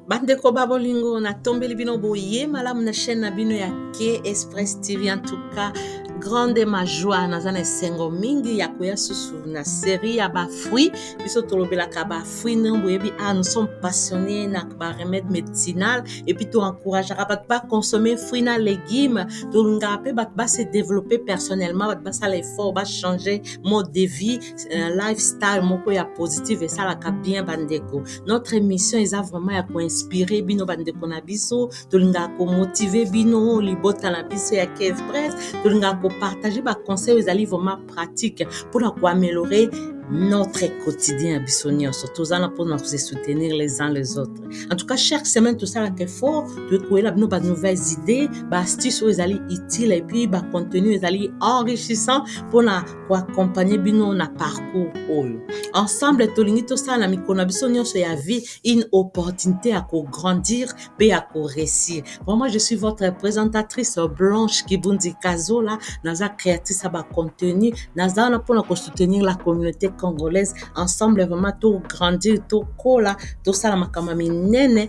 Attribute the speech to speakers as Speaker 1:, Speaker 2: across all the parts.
Speaker 1: bandeko babolingo natombeli bino boye malamu na chaîne na bino ya ke express tv en tout cas grande majoi naza na esengo mingi ya koya susu na serie ya bafruit biso tolobelaka bafruit ndenge boyebi ah nous sommes passionné na baremède médicinal epuis toencourageaka bato baconsomme fruit na légume tolingaka mpe bato base développe personnellement bato basala effort bachange mode de vie Euh, lifestyle moko ya positive esalaka bien bandeko notre émission eza vraiment ya koinspire bino bandeko na biso tolingaka komotive bino libota na biso ya cave press tolingaka kopartage baconseil ezali vraiment pratique mpona koaméliorer notre quotidien ya biso nyonso toza na mpona kose soutenir les uns les autres en tout cas chaque semaine tosalaka effort toekoyela bino banouvelles idées baastuce oyo ezali utile epuis bacontenu ezali enrichissant mpona koakompagne bino na parcours oyo ensemble tolingi tosala na mikolo na biso nyonso ya vie une opportunité ya kograndir mpe ya koresir vraiment je suis votre présentatrice blanche kibundi kazola naza créatrice ya bacontenu naza wana mpona kosoutenir la communauté congolaise ensemble vraiment tograndir tokola tosala makambo ya minene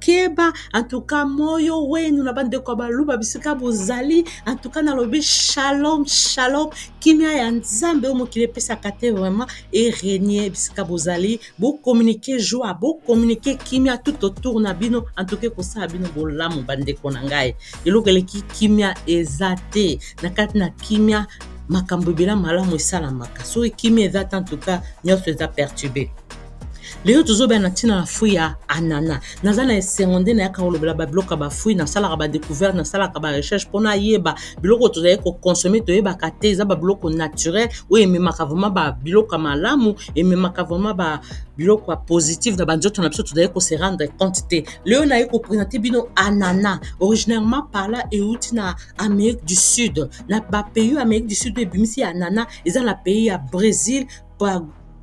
Speaker 1: keba antuka moyo wenu na bandeko ya baluba bisika bozali antuka nalobi shalom shalom kimia ya nzambe oyo mokili epesaka te vraiment erenie bisika bozali bocommunike joie bocommunike kimia tout autour na bino antuka ekosala bino bolamu bandeko na ngai eloko eleki kimia eza te na kati na kimia makambo ebela malamu esalamaka soki kimia eza te antuka nyonso eza perturbe lelo tozobela na ntina na fruit ya anana naza na esengo nde nayaka kolobela babiloko ya bafruit nasalaka badecouverte nasalaka barecherche mpo nayeba biloko tozali kokonsome toyebaka te eza babiloko naturel oyo ememaka vraimen babiloko ya malamu ememaka vraimen ba biloko ya positive na banzoto na biso tozali kose rendre compte te lelo naye kopresente bino anana originairement parla euti na amérique du sud na bapays ya amérique du sud oyo ebimisi ya anana eza na pays ya brésil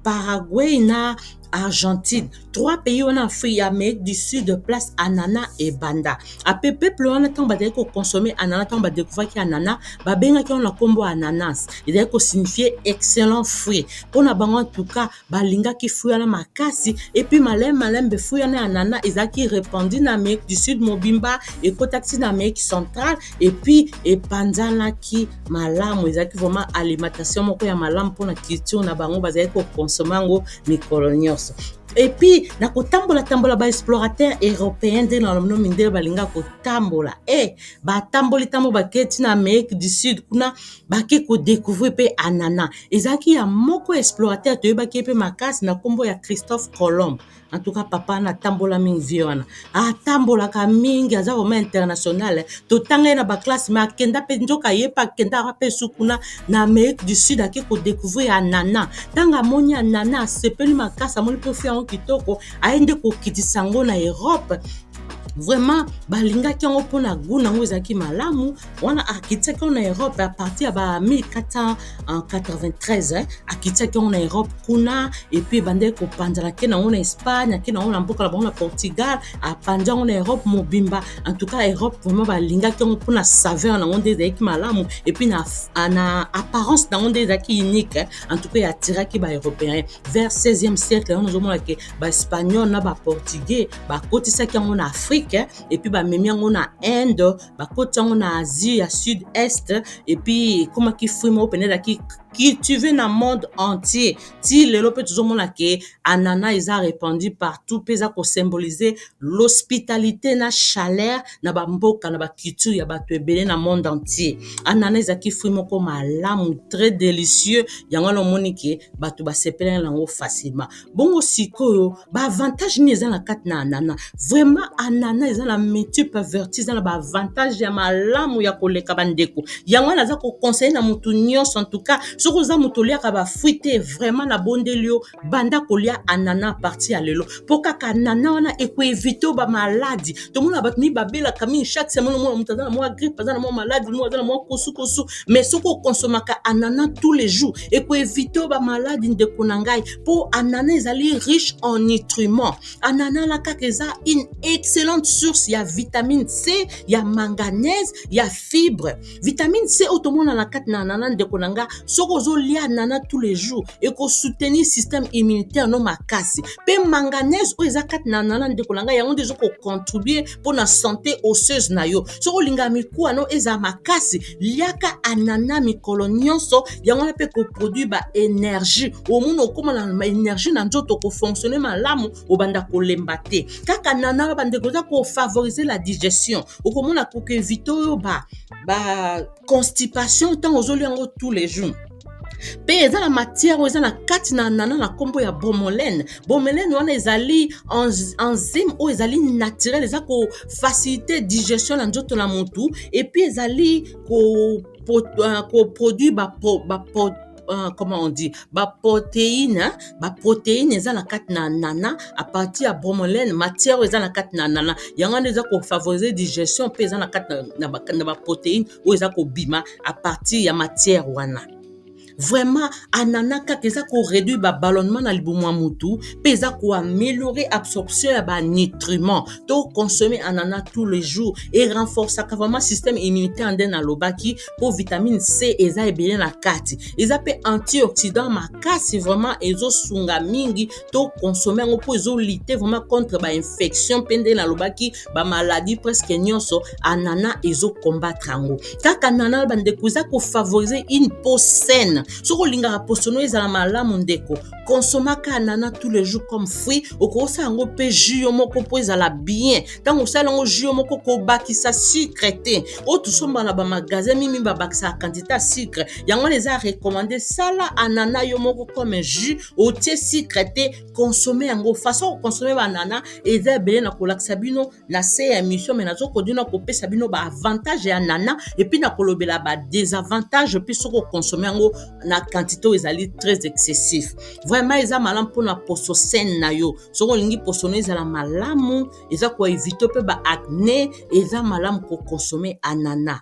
Speaker 1: Paraguay na Argentine trois pays wana Afrique ya Amérique du Sud place anana ebanda ape peuple wana ntango bazali koconsomme anana ntango badekouvraki anana babengaki yango na nkombo ya ananas ezali kosignifie excellent fruit mpo na bango antuka balingaki fruit wana makasi epuis malai malembe fruit wana ya anana ezalaki répandi na Amérique du Sud mobimba ekotaki na Amérique centrale epuis epanzanaki malamu ezalaki vraiment alimentation moko ya malamu mpona culture na bango bazalaki kokonsome yango mikolo nyonso epuis na kotambolatambola baexplorateur européen nde na lomno mindele balinga kotambola e eh, batamboli ntango bake ntina amérique du sud kuna bake kodécouvrir mpe anana ezalaki ya moko explorateur toyebaki ye mpe makasi na nkombo ya christophe colombe en tout cas papa na tambola mingi vie wana atambolaka mingi aza vraiment international eh. totanga ye na baklasse me akenda mpe nzoka ye mpe akendaka mpe su kuna na amérique du sud ake kodécouvrir anana ntango amoni anana asepeli makasi amoni mpe fi yango kitoko aye nde kokitisa yango na europe vraiment balingaki yango mpona gout na yango ezalaki malamu wana akitaki yango na europe a partir ya ba 1493 akitaki yango na europe kuna epuis ebandaki kopanzana ke nango na espagne ake nango na mboka na bango na portugal apanzi yango na europe mobimba en tout cas europe vraiment balingaki yango mpona saveur nango nde ezalaki malamu epuis na, na apparence nango nde ezalaki unique en tout cas eatiraki ba européen vers 16e siècle yango nazomona ke baespagnol na baportugais bakotisaki yango na afrique epuis bamemi yango na inde bakoti yango na asie ya sud est epuis ekomaki fruit moko mpenza ezalaki cultive na monde entier ti lelo mpe tozomona ke anana eza repandu partout mpe eza kosymbolize l'hospitalité na chaleur na bamboka na baculture ya bato ebele na monde entier anana ezalaki fruit moko malamu très délicieux yango wana omoni ke bato basepelaki na yango facilement bongo sikoyo baavantage nini eza na kati na anana vraiment anana eza na multiple vertu eza na baavantage ya malamu ya koleka bandeko yango wana aza koconseille na motu nyonso en tout cas soki oza moto oliaka bafruit te vraiment nabondeli yo banda kolia anana parti ya lelo mpo kaka anana wana ekoevite bamaladi tomona bato mi babelaka mingi chaque semaine omona moto aza na mwa grippe aza na mwa maladi mo aza na mwa kosukosu mais soki okonsomaka anana tous les jours ekoevite bamaladi ndeko na ngai mpo anana ezali riche en nutriment anana la kaka eza une excellente source ya vitamine c ya manganese ya fibre vitamine c oyo tomona na kati na anana ndeko na nga soki ozolia anana tous les jours ekosoutenir système immunitaire no makasi mpe manganese oyo eza kati na anana ndeko na nga yango nde ezokocontribue mpo na sante osseuse na yo soki olingaka mikuwa no ezala makasi liaka anana mikolo nyonso yango wana mpe koproduire baénergie omona okóma na baénergie na nzoto kofonctionne malamu obanda kolemba te kaka nana bandeko eza kofavorize la digestion okomona kokoevite oyo ba, ba constipation ntango ozoli yango tous les jours mpe eza na matière oyo eza na kati na anana na nkombo ya bomolene bomolene wana ezali enzyme oyo ezali naturel eza kofacilite digestion na nzoto na motu epuis ezali koproduire euh, ko ba, ba, euh, comment on dit baprotéine hein? baprotéine eza na kati na nana à partir ya bromolene matière oyo eza na kati na nana yango wana eza kofavorise digestion mpe eza na kati na baprotéine oyo eza kobima à partir ya matière wana vraiment anana kaka eza koréduire baballonnement na libumu ya motu mpe eza koaméliorer absorption ya banutriments to consommer anana tous les jours e renforcaka vraiment système immunitaire nde nalobaki mpo vitamine c eza ebele na kati eza mpe antioxydant makasi vraiment ezosunga mingi to consommer yango mpo ezolite vraiment contre bainfection mpe nde nalobaki ba maladie presque nyonso anana ezo combattre yango kaka nana bandeko eza kofavorize une peau saine soki olingaka posono ezala malamu ndeko konsomaka anana tous les jours comme fruit okosala yango mpe jus yo moko mpo ezala bien ntango osala yango jus yo moko kobakisa sucre te oyo tosomba na bamagasin mimi babakisaka quantité ya sucre yango wana eza recommande sala anana yo moko comme jus otie sucre te konsome yango façon ya kokonsome banana eza ebele na kolakisa bino na se ya émission mai nazo kodi na kopesa bino baavantage ya nana epuis na kolobela badesavantage epuis soki okonsome yango na quantité oyo ezali très excessif vraiment eza malamu mpona poso saine na yo soki olingi poso no ezala malamu eza koevite mpe baacne eza malamu kokonsome anana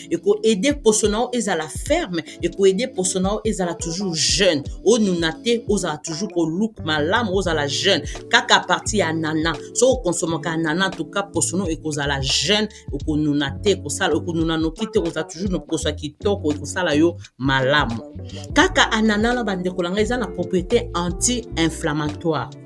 Speaker 1: eko aide poso na yo ezala ferme eko aide poso na yo ezala toujours jeune onuna te ozala toujours kolook malamu ozala jeune kaka parti ya nana soki okonsomaka ya nana antuka poso no ekozala jeune okonuna te ekosala okonuna noki te okozala toujours na poso ya kitoko ekosala yo malamu kaka anana na bandeko na ngai eza na propriété anti-inflammatoire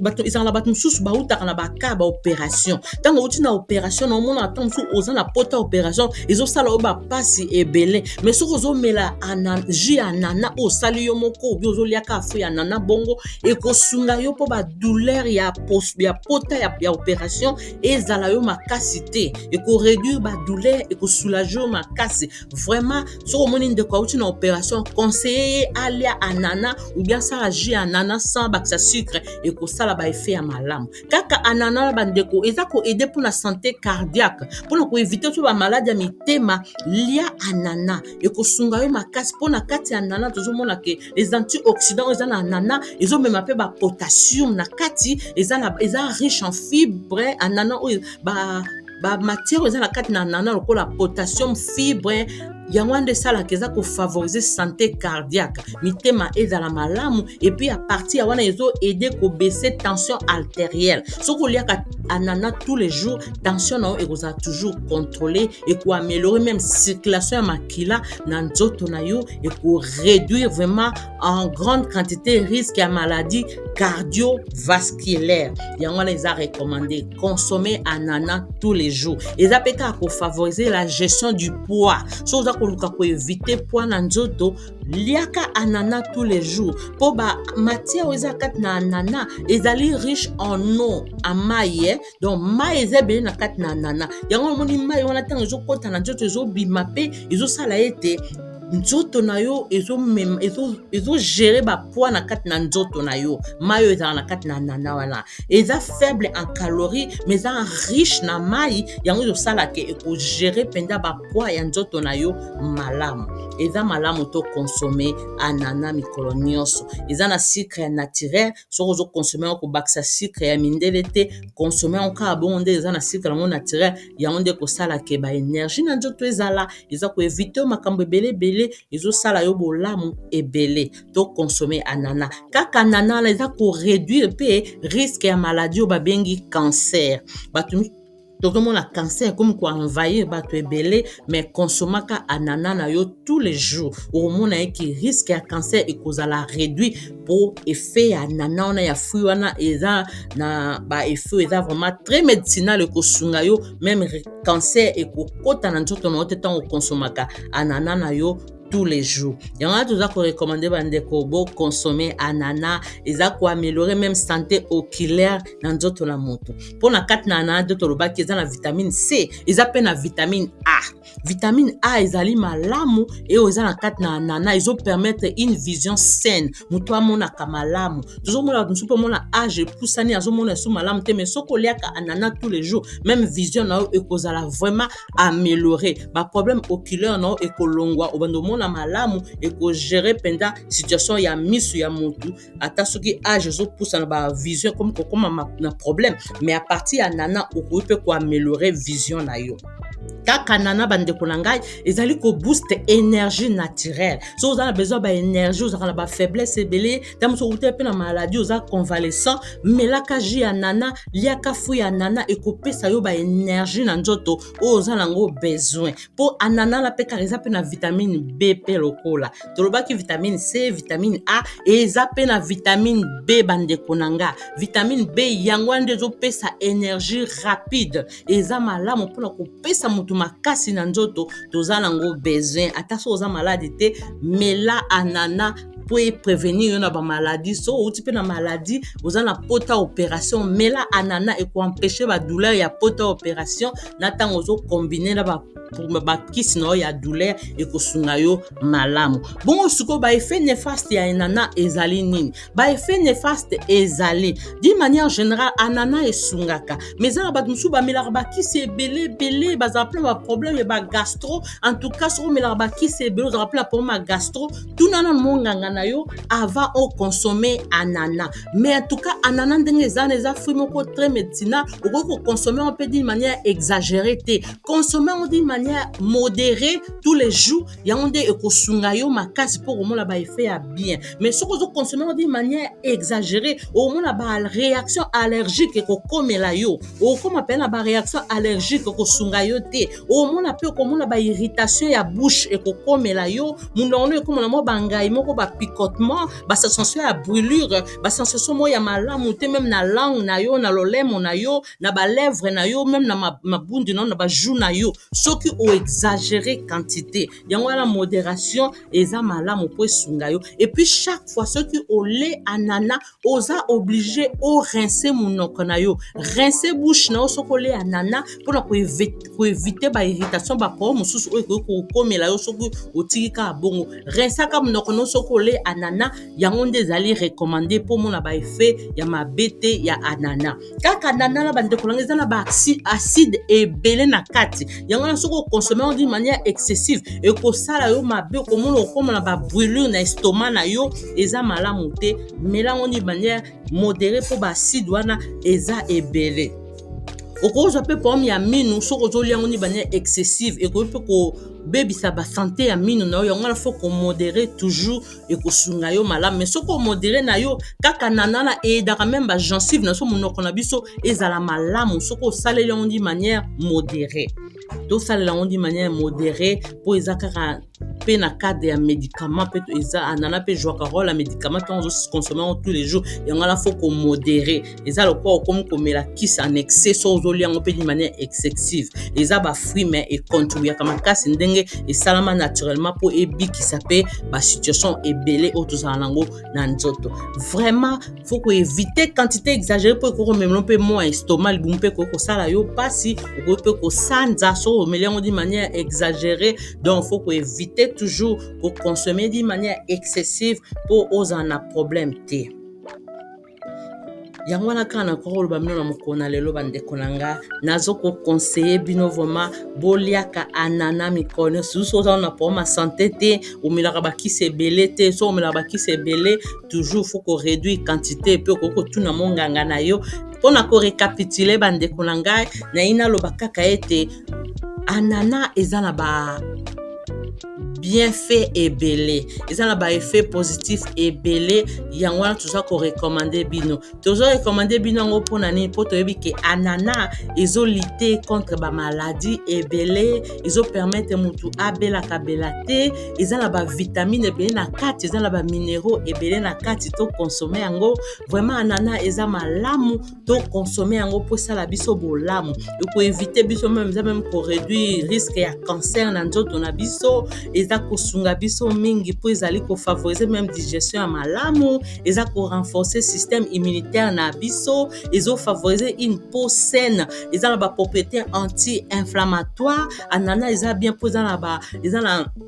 Speaker 1: bato ezalaka na bato mosusu bautaka na baka baopération ntango outi na opération na omona ntango mosusu oza na pota opération ezosala yo bapasi ebele mais soki ozomela jus ya nana oyo osali yo moko obi ozoliaka fri ya nana bongo ekosunga yo mpo badouleur ya, ya pota ya, ya opération ezala yo makasi te ekoreduire badouleur ekosoulage yo makasi vraiment soki omoni ndeko auti na opération conseiller ye alia anana oubien asala jus ya anana sans bakisa sucre ekosala baeffet ya malamu kaka anana na bandeko eza koaide mpona santé cardiaque mpona koevite to bamaladi ya mitema lia anana ekosunga yo makasi mpona kati ya anana tozomona ke les antioxydant eza na anana ezomema mpe bapotassium na kati eza, na, eza riche en fibre anana oyo ba ba matière eza na kati na nana lokola potassium fibre yango wana nde esalaka eza kofavorize sante cardiaque mitema ezala malamu epuis ya parti ya wana ezo aide kobese tension arterielle soki oliaka anana tous les jours tension na yo ekozala toujours contrôle ekoameliore même circulation ya makila na nzoto na yo ekoreduire vraiment en grande quantité risque ya maladie cardiovasculaire yango wana eza recommandé consommer anana tous les jours eza mpe kaka kofavoriser la gestion du poids so oza koluka koevite poids na nzoto liaka anana tous les jours mpo bamatière oyo eza kati na anana ezali riche en eau amai donc mai eza ebele na kati na anana yango omoni mai wana ntango ezokɔta na nzoto ezobima mpe ezosala ete nzoto na yo ezogere bapoids na kati na nzoto na yo mai oyo ezala na kati na anana wana eza faible en calorie mais eza riche na mai yango ezosala ke ekogere mpenza bapoids ya nzoto na yo malamu eza malamu to consommer anana mikolo nyonso eza na sucre ya naturel soki ozo consomme yango kobakisa sucre ya mindele te consomme yango kaka bongo nde eza na sucre yango naturel yango nde ekosala ke ba energie na nzoto ezala eza koevite yo makambo ebele ebele ezosala yo bolamu ebele to consomme anana kaka anana wana eza koreduire mpe risque ya maladie oyo babengi cancer bato tokomona cancer ekomi ko envahir bato ebele mais consommaka anana na yo tous les jours okomona ye ki risque ya cancer ekozala réduit mpo effet ya anana wana ya fruit wana eza na ba effet eza vraiment très médicinal ekosunga yo même cancer ekokota na nzoto na yo te ntango okonsommaka anana na yo tous les jours yango wana toza korecommande bandeko boconsomme anana eza koameliore meme santé oculaire na nzoto na moto mpo na kati na anana nde tolobaki eza na vitamine c eza mpe na vitamine a vitamine a ezali malamu eyo eza na kati na anana ezopermettre une vision saine moto amonaka malamu tozomona bato mosusu mpe omona age epusani azomona esu malamu te mais soki oliaka anana tous les jours meme vision na yo ekozala vraiment améliorer ba problème oculaire na yo ekolongwa obanda omona malamu ekogere mpenza situation ya misu ya motu ata soki age ezopusa na ba vision ekomi kokoma na problème mais à partir ya nana okoki mpe koaméliorer vision na yo kaka nana bandeko na ngai ezali kobooste énergie naturelle so oza na besoin ba énergie ozalaka na ba faiblesse ebele ta mosusu okutela mpe na maladie oza convalescent melaka ji ya nana liaka fui ya nana ekopesa yo baenergie na nzoto oyo oza nango besoin mpo ananala mpe kaka eza mpe na vitamine b mpe lokola tolobaki vitamine c vitamine a eza mpe na vitamine b bandeko na nga vitamine b yango wana nde ezopesa energie rapide eza malamu mpona pesa motu makasi na nzoto toza nango besoin ata soki oza maladi te mela anana mpo eprevenir yo na bamaladi so outi mpe na maladi oza na pota opération mela anana ekoempeshe badouleur ya pota opération na ntango ozokombine na ba bakisi na yo ya douleur ekosunga yo malamu bongo sikoyo baeffet nefaste ya enana ezali nini ba effet nefaste ezali d'une manière générale anana esungaka mais eza na bato mosusu bamelaka bakisi ebele ebele bazala mpe na baproblème ya bagastro en tout cas soki omelaka bakisi ebele ozalaka mpe na problème ya gastro tuna nano monganga na yo avant oconsomme anana mais en tout cas anana ndenge eza na eza fruit moko très médecina okoki koconsomme yango mpe d'une manière exagéré te consomme yango d'une manière modéré tous les jours yango nde ekosunga yo makasi mpo okomona ba effet ya bien mais soki ozo consomme yango d'une manière exagérée okomona ba réaction allergique ekokomela yo okokoma mpe na ba réaction allergique ekosunga yo te okomona mpe okomona ba irritation ya bouche ekokomela yo monoko no ekomona mwa bangai moko ba picotement ba sensation ya brûlure ba sensation moko ya malamu te meme na langue na yo na lolemo na yo na ba lèvre na yo meme na mabundi na yo na ba joue na yo soki o exagere quantité yango wana modération eza malamu mpo esunga yo et puis chaque fois soki ole anana oza oblige o rince monoko na yo rince bouche na yo soki ole anana mpo na koevite ba irritation ba problème mosusu oyo ekoki kokomela yo soki otiki kaka bongo rinsaka monoko na yo soki ole anana yango nde ezali recommande mpo omona ba effet ya mabe te ya anana kaka danda na bandeko nanga eza na ba acide ebele na kati yango wana soki okonsome yango d'une manière excessive ekosala yo mabe okomona okoma na ba brûlure na estomac na yo eza malamu te mela yango d'une manière modéré mpo ba acide wana eza ebele okozwa mpe problème ya minu soki ozolia yango ni bania excessive ekoki mpe kobebisa basante ya minu na yo yango wana fo komodere toujours ekosunga yo malamu mais soki omodere na yo kaka nanana eyedaka meme bagencive na so monoko na biso ezala malamu soki osaleli yango di manière modere tosalela yango di manière modere mpo eza kaka mpe na cadre ya médicament mpe eza anana mpe joaka role ya médicament ntango ozoconsome yango tous les jours yango ala fo komodere eza lokola okomi komela kisi en excès so ozoli yango mpe d'une manière excessive eza bafruit mais econtribuaka makasi ndenge esalama naturellement mpo ebikisa mpe basituation ebele oyo tozala nango na nzoto vraiment faut koevite quantité exagéré mpo ekoki komemela mpe mwa estoma libumu mpe ekoki kosala yo mpasi okoki mpe kosanza soki omeli yango d'une manière exagérée donc faut koevite toujours kokonsommer d'une manière excessive mpo ozala na problème te yango wana kaka na koko oloba bino na mokolo na lelo bandeko na nga nazo kokonseye bino vraimen boliaka anana mikolo nyonso susu oza na problème ya sante te omelaka bakisi ebele te so omelaka bakisi ebele toujours faut koréduire quantité mpe okoki kotuna monganga na yo mpo na korekapitule bandeko na ngai nayi naloba kaka ete anana eza na ba bienfait ebele eza na baeffet positif ebele yango wana toza korecommande bino tozo recommande bino yango mpo na nini mpo toyebi ke anana ezolite contre bamaladi ebele ezopermettre motu abelakabela te eza na bavitamine ebele na kati eza na bamineraux ebele na kati toconsomme yango vraiment anana eza malamu tokonsome yango mpo esala biso bolamu ekoinvite biso meme eza meme koreduire risque ya cancer na nzoto na biso eza kosunga biso mingi mpo ezali kofavorise meme digestion ya malamu eza korenforce système immunitaire na biso ezofavorise une peau saine eza na bapropriété anti-inflammatoire anana eza bien mpo eza na ba eza na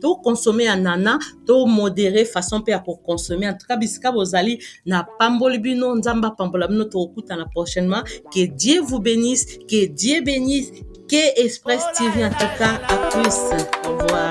Speaker 1: to consommer ya nana to modere façon mpe ya koconsommer en tout cas bisika bozali na pamboli bino nzambe apambola bino tokokutana prochainement que dieu vous bénisse que dieu bénisse que express tv en tout cas à plus au revoir